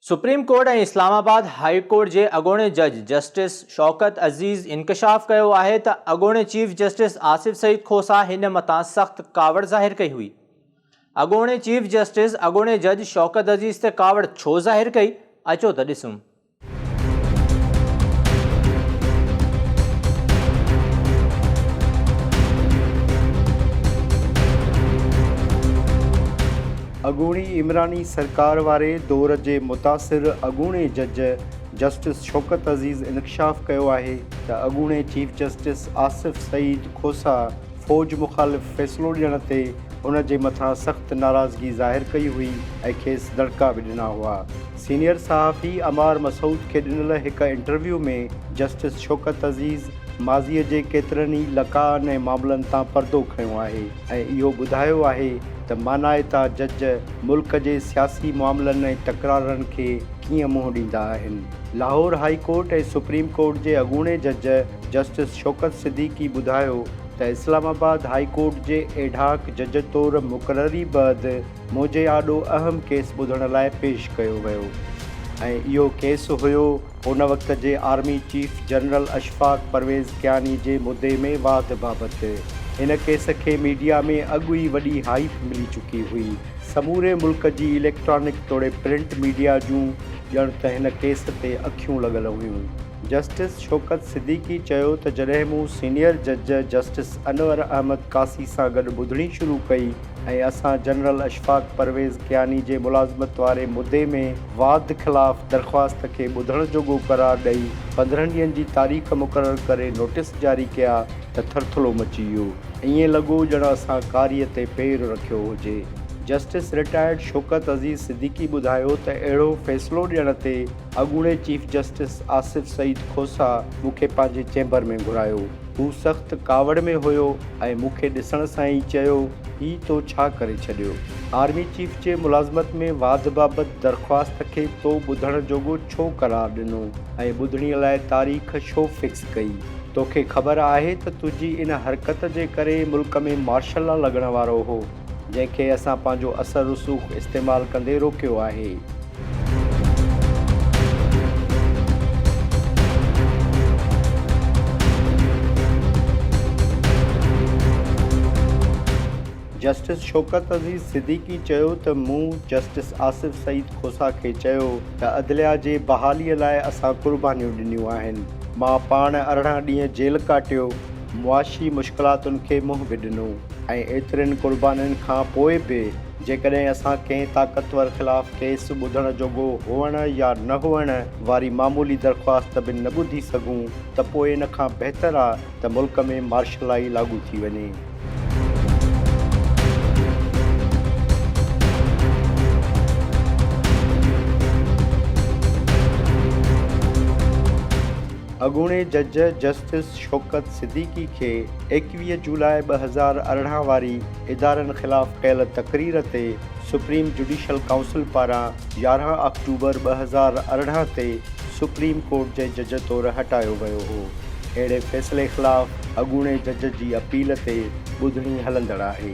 Supreme court ۽ Islamabad high court جي اڳوڻي جج جسٽس شوڪت عزيز انڪشاف ڪيو آهي ته اڳوڻي چيف جسٽس آصف سعيد کوسا هن مٿان سخت ڪاوڙ ظاهر ڪئي هئي. اڳوڻي چيف جسٽس اڳوڻي جج شوڪت عزيز تي ڪاوڙ ڇو ظاهر ڪئي؟ اچو ته ڏسون. اڳوڻي عمراني سرڪار واري دور جي متاثر اڳوڻي جج جسٽس شوڪت عزيز انڪشاف ڪيو آهي ته اڳوڻي چيف جسٽس آصف سعيد کوسا فوج مخالف فيصلو ڏيڻ تي هن جي مٿان سخت ناراضگي ظاهر ڪئي هئي ۽ کيس دڙڪا به ڏنا هئا. سينيئر صحافي عمار مسعود کي ڏنل هڪ انٽرويو ۾ جسٽس شوڪت عزيز ماضي جي ڪيترن ئي لقاءن ۽ معاملن تان پردو کنيو آهي. ۽ اهو ٻڌايو آهي ته مانائتا جج ملڪ جي سياسي معاملن ۽ تڪرارن کي ڪيئن منهن ڏيندا آهن. Lahore high court ۽ supreme court جي اڳوڻي جج جسٽس شوڪت صديقي ٻڌايو ته اسلام آباد هاء ڪورٽ جي ايڊهاڪ جج طور مقرري بعد منهنجي آڏو اهم ڪيس ٻڌڻ لاء پيش ڪيو ويو ۽ اهو ڪيس هيو ان وقت جي army chief general Ashfaq Pervez Kayani جي مدي ۾ واڌ بابت ان ڪيس کي ميڊيا ۾ اڳ ئي وڏي هائيپ ملي چڪي هئي. سموري ملڪ جي اليڪٽرانڪ توڙي پرنٽ ميڊيا جون ڄڻ ته هن ڪيس تي اکيون لڳل هيون. جسٽس شوڪت صديقي چيو ته جڏهن مون سينيئر جج جسٽس انور احمد قاصي سان گڏ ٻڌڻي شروع ڪئي ۽ اسان جنرل اشفاق پرويز ڪياني جي ملازمت واري مدي ۾ واڌ خلاف درخواست کي ٻڌڻ جوڳو قرار ڏئي پندرهن ڏينهن جي تاريخ مقرر ڪري نوٽيس جاري ڪيا ته ٿرٿلو مچي ويو ائين لڳو ڄڻ اسان ڪاري تي پير رکيو هجي جسٽس رٽائرڊ شوڪت عزيز صديقي ٻڌايو ته اهڙو فيصلو ڏيڻ تي اڳوڻي چيف جسٽس آصف سعيد کوسا مون کي پنهنجي چيمبر ۾ گهرايو. هو سخت ڪاوڙ ۾ هيو ۽ مون کي ڏسڻ سان ئي چيو، هي تو ڇا ڪري ڇڏيو؟ آرمي چيف جي ملازمت ۾ واڌ بابت درخواست کي تو ٻڌڻ جوڳو ڇو قرار ڏنو ۽ ٻڌڻي لاء تاريخ ڇو فڪس ڪئي؟ توکي خبر آهي ته تنهنجي ان حرڪت جي ڪري ملڪ ۾ مارشل لا لڳڻ وارو هو. جنهن کي اسان پنهنجو اثر رسوخ استعمال ڪندي روڪيو آهي. جسٽس شوڪت عزيز صديقي چيو ته مون جسٽس آصف سعيد کوسا کي چيو ته عدليا جي بحالي لاء اسان قربانيون ڏنيون آهن، مان پاڻ ارڙهن ڏينهن جيل ڪاٽيو معاشي مشڪلاتن کي منهن به ڏنو ۽ ايترين قربانين کان پوء به جيڪڏهن اسان ڪنهن طاقتور خلاف ڪيس ٻڌڻ جوڳو هئڻ يا نه هئڻ واري معمولي درخواست به نه ٻڌي سگهون ته پوء ان کان بهتر آ ته ملڪ ۾ مارشلائي لاڳو ٿي وڃي. اڳوڻي جج جسٽس جسٽس شوڪت صديقي کي ايڪويهه جولاء ٻه هزار ارڙهن واري ادارن خلاف ڪيل تقرير تي سپريم جڊيشل ڪائونسل پاران يارهن آڪٽوبر ٻه هزار ارڙهن تي سپريم ڪورٽ جي جج طور هٽايو ويو هو اهڙي فيصلي خلاف اڳوڻي جج جي اپيل تي ٻڌڻي هلندڙ آهي.